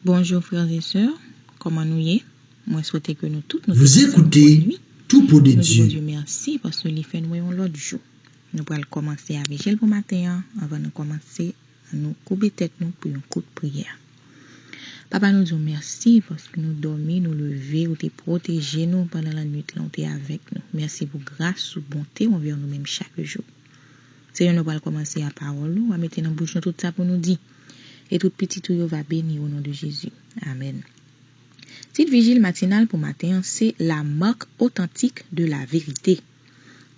Bonjour frères et sœurs kòman nou ye mwen swete ke nou tout nou te pase yon bonne nuit nou di Bondye merci paske li fè nou wè yon lòt jou nou pral kòmanse a vijil pou maten an anvan nou kòmanse an nou koube tèt nou pou yon kout priyè papa nou di w merci paske nou dòmi nou leve ou te pwoteje nou pandan la nuit lan ou te avèk nou merci pou gras ou bonte w anvè nou menm chak jou. Senyè, nou pral kòmanse a pawòl ou a mete nan bouch nou tout sa pou nou di. E tout pitit ou yo va beni o non de Jezi. Amèn. Tit vijil matinal pou maten an se La marque authentique de la vérité.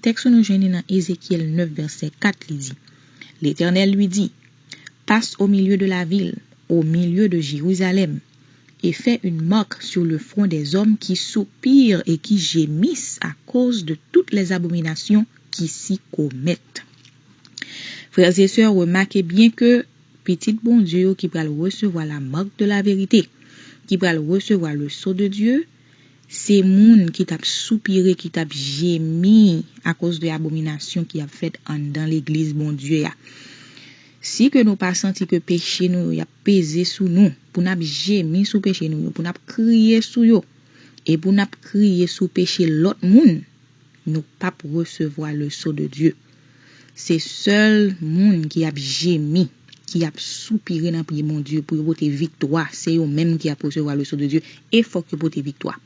Tèks ou nou jwenn li nan Ezekyèl 9 vèsè 4 li di, L'Etènèl li di, Passe au milieu de la ville, au milieu de Jérusalem, e fè yn mark sur le front des hommes ki soupir e ki jemis a koz de tout les abomination ki si komèt. Frères et sœurs remake byen ke pitit Bondye yo ki pral resevwa la mark de la verite, ki pral resevwa le sceau de Dye, se moun ki tap soupire, ki tap jemi a koz de abomination ki ap fèt anndan legliz Bondye a. Si ke nou pa santi ke peche nou yo yap. peze sou nou, pou n ap jemi sou peche nou yo, pou n ap kriye sou yo, e pou n ap kriye sou peche lòt moun, nou p ap resevwa leson de Dye. Se sèl moun ki ap jemi, ki ap soupire nan pye Bondye pou yo pote viktwa, se yo menm ki ap resevwa leson de Dye, e fòk yo pote viktwa.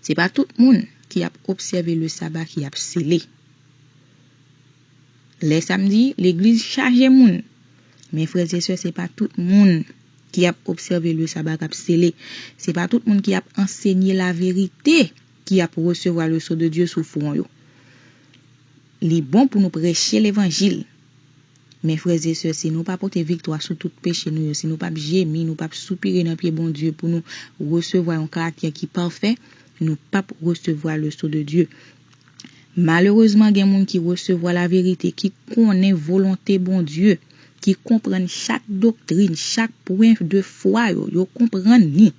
Se pa tout moun ki ap obsève le Saba ki ap sele. Lè samdi, legliz chaje moun. Men frèzesè se pa tout moun ki ap obsève le saba kap sele, se pa tout moun ki ap ansenye la verite ki ap resevwa le so de Dye sou fron yo. Li bon pou nou preche levanjil. Men frèzesè si nou pa pote viktwa sou tout peche nou yo, si nou pap jemi, nou pap soupire nan pye Bondye pou nou resevwa yon karaktè ki pafè, nou pap resevwa le so de Dye. Malerezman gen moun ki resevwa laverite, ki konnen volonte Bondye, ki konprann chak doktrin, chak pwen de fwa yo, yo konprann ni.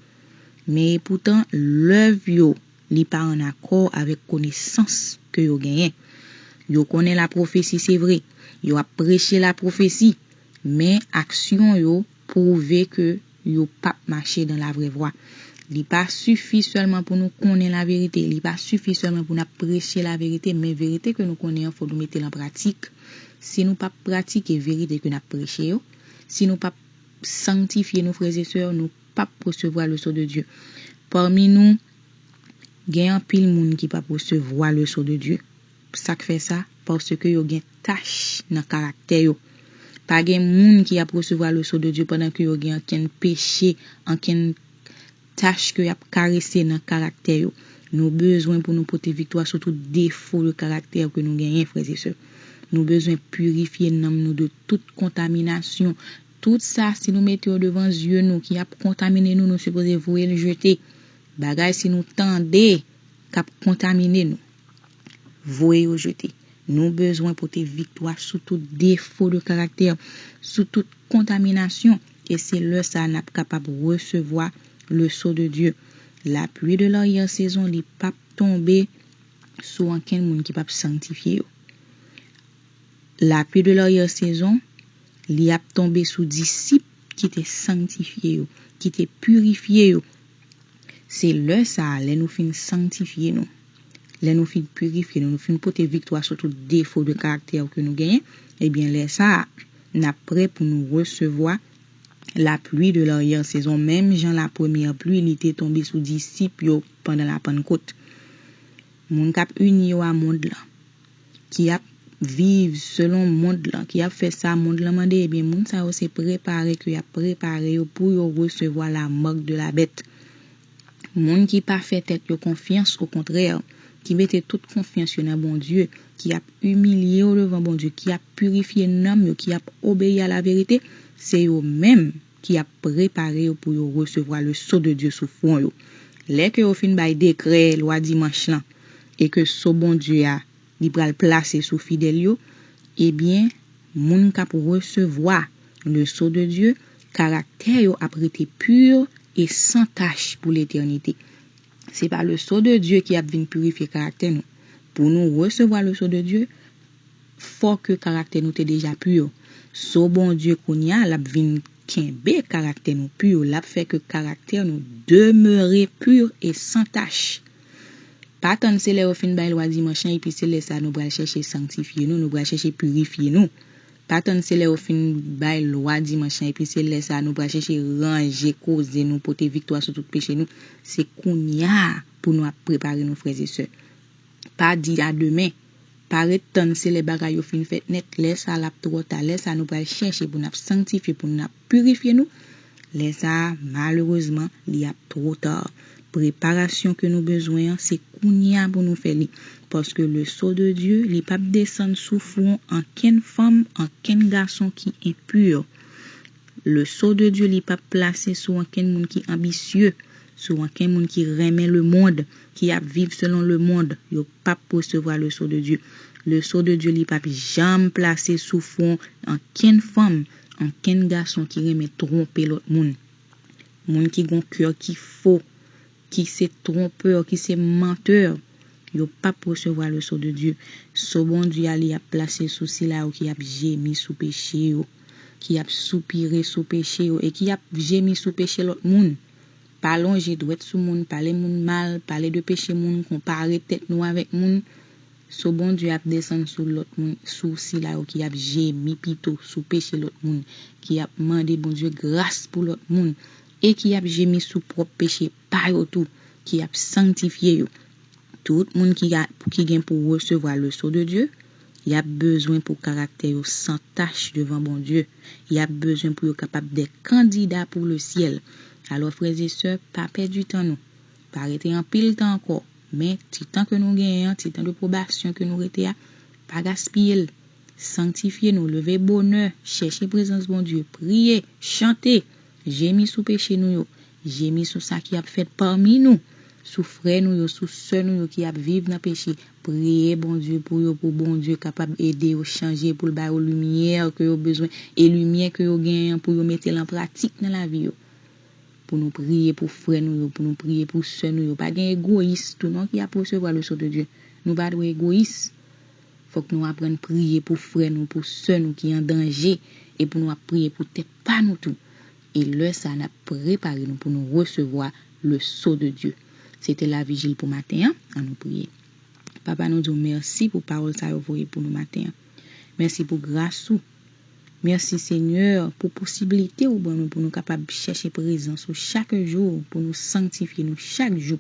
Men epoutan lèv yo li pa an akò avèk konesans ke yo genyen. Yo konnen lapwofesi se vre, yo ap preche lapwofesi, men aksyon yo, pwouve ke yo pap mache dan la vrè vwa. Li pa sifi sèlman pou nou konnen laverite, li pa sifi sèlman pou nap preche laverite, men verite ke nou konnen an fò nou mete l an pratik. Si nou pap pratike verite ke nap preche yo, si nou pap sangtifye nou frè e sè, nou pap resevwa leson de Dye. Pami nou, gen anpil moun ki pap resevwa leson de Dye. Sa k fè sa? Paske yo gen tach nan karaktè yo. Pa gen moun ki ap resevwa leson de Dye pandan ke yo gen ankenn peche, ankenn tach ke y ap karese nan karaktè yo. Nou bezwen pou nou pote viktwa sou tout defo de karaktè ke nou genyen, frè e sè. Nou bezwen pirifye nanm nou de tout kontaminasyon. Tout sa, si nou mete yo devan zye nou, ki ap kontamine nou, nou sipoze voye l jete. Bagay si nou tande k ap kontamine nou. Voye yo jete. Nou bezwen pote viktwa sou tout defo de karaktè, sou tout kontaminasyon, e se lè sa a n ap kapab resevwa le sceau de Dieu. Lapluie de l'arrière saison li p ap tonbe sou ankenn moun ki p ap sangtifye yo. Lapluie de l'arrière saison li ap tonbe sou disip ki te sangtifye yo, ki te pirifye yo, Se lè sa a, lè nou fin sangtifye nou, lè nou fin pirifye nou, nou fin pote viktwa sou tout defo de karaktè yo ke nou genyen, ebyen lè sa a, n ap prè pou nou resevwa la pluie de l'arrière saison menm jan la première pluie li te tonbe sou disip yo pandan la Pannkot. Moun k ap ini yo a mond lan. ki ap viv selon mond lan, ki ap fè sa mond lan mande, ebyen moun sa yo se prepare ke y ap prepare yo pou yo resevwa la marque de la bête. Moun ki pa fè tèt yo konfyans, okontrè, ki mete tout konfyans yo nan Bondye, ki ap imilye yo devan Bondye, ki ap pirifye nanm yo, ki ap obeyi a laverite, se yo menm, ki ap prepare yo pou yo resevwa le so de Dye sou fwon yo. Lè ke yo fin bay dekrè lwa dimanch lan, e ke so Bondye a li pral plase sou fidèl yo, ebyen, moun k'ap resevwa le so de Dye, karaktè yo ap rete pur e san tach pou letènite. Se pa le so de Dye ki ap vin purifye karaktè nou. Pou nou resevwa le so de Dye, fò ke karaktè nou te deja pur so Bondye kounya lap vin kenbe karaktè nou pur lap fè ke karaktè nou demeure pur e san tach pa tann se lè yo fin bay lwa dimanch lan epi se lè sa nou pral chèche sanktifye nou nou pral chèche purifye nou pa tann se lè yo fin bay lwa dimanch lan epi se lè sa nou pral chèche ranje koze nou pote viktwa sou tout peche nou se kounya pou nou ap prepare nou frè e sè pa di a demen. Pa ret tann se lè bagay yo fin fèt nèt, lè sa a l ap twò ta, lè sa a nou pral chèche pou n ap sanktifye, pou n ap pirifye nou, lè sa a malerezman li ap two ta. Preparasyon ke nou bezwen an se kounye a pou nou fè li, paske le so de Dye li p ap desann sou fwon ankenn fanm, ankenn gason ki enpur. Le sceau de Dieu li pap plase sou ankenn moun ki anbisye, sou ankenn moun ki renmen le mond, ki ap viv selon le mond, yo pap resevwa le sceau de Dieu. Le sceau de Dieu li pap janm plase sou fwon ankenn fanm, ankenn gason ki renmen twonpe lòt moun. Moun ki gon coeur ki fo, ki se trompeur, ki se menteur, yo pap resevwa le sceau de Dieu. Sceau Bondye a li ap plase sou sila yo ki ap jemi sou peche yo, ki ap soupire sou peche yo e ki ap jemi sou peche lòt moun. Pa lonje dwèt sou moun, pale moun mal, pale de peche moun, konpare tèt nou avèk moun. Sceau Bondye ap desann sou lòt moun, sou sila yo ki ap jemi pito sou peche lòt moun, ki ap mande Bondye gras pou lòt moun. e ki ap jemi sou pwòp peche pa yo tou, ki ap sangtifye yo. Tout moun ki a, ki gen pou resevwa le so de Dye, y ap bezwen pou karaktè yo san tach devan Bondye, y ap bezwen pou yo kapab de kandida pou le syèl. Alò, frèzesè, pa pèdi tan nou, pa rete anpil tan ankò, men, ti tan ke nou genyen an, ti tan de pwobasyon ke nou rete a, pa gaspiye l, sangtifye nou, leve bonè, chèche prezans Bondye, priye, chante! Jemi sou peche nou yo, jemi sou sa ki ap fèt pami nou, sou frè nou yo, sou sè nou yo ki ap viv nan peche, priye Bondye pou yo pou Bondye kapab ede yo chanje pou l ba yo limyè ke yo bezwen e limyè ke yo genyen an pou yo mete l an pratik nan lavi yo. Pou nou priye pou frè nou yo, pou nou priye pou sè nou yo, pa gen egoyis tou non ki ap resevwa leson de Dye, nou pa dwe egoyis. Fòk nou aprann priye pou frè nou, pou sè nou ki an danje e pou nou ap priye pou tèt pa nou tou. E lè sa a n ap prepare nou pou nou resevwa le so de Dye. Se te lavijil pou maten an, an nou priye. Papa nou di w mèsi pou pawòl sa yo voye pou nou maten an. Mèsi pou gras ou. Mèsi Senyè pou posiblite ou ban nou pou nou kapab chèche prezans ou chak jou, pou nou sanktifye nou chak jou.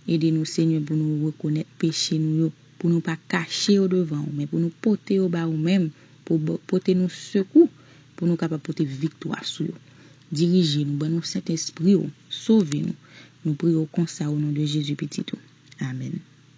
Ede nou Senyè pou nou rekonèt peche nou yo. pou nou pa kache yo devan ou, men pou nou pote yo ba ou menm, pou ou pote nou sekou, pou nou kapab pote viktwa sou yo. Dirije nou, ban nou Sentespri ou, sove nou. Nou priye ou konsa o non de Jezi Pitit ou. Amèn.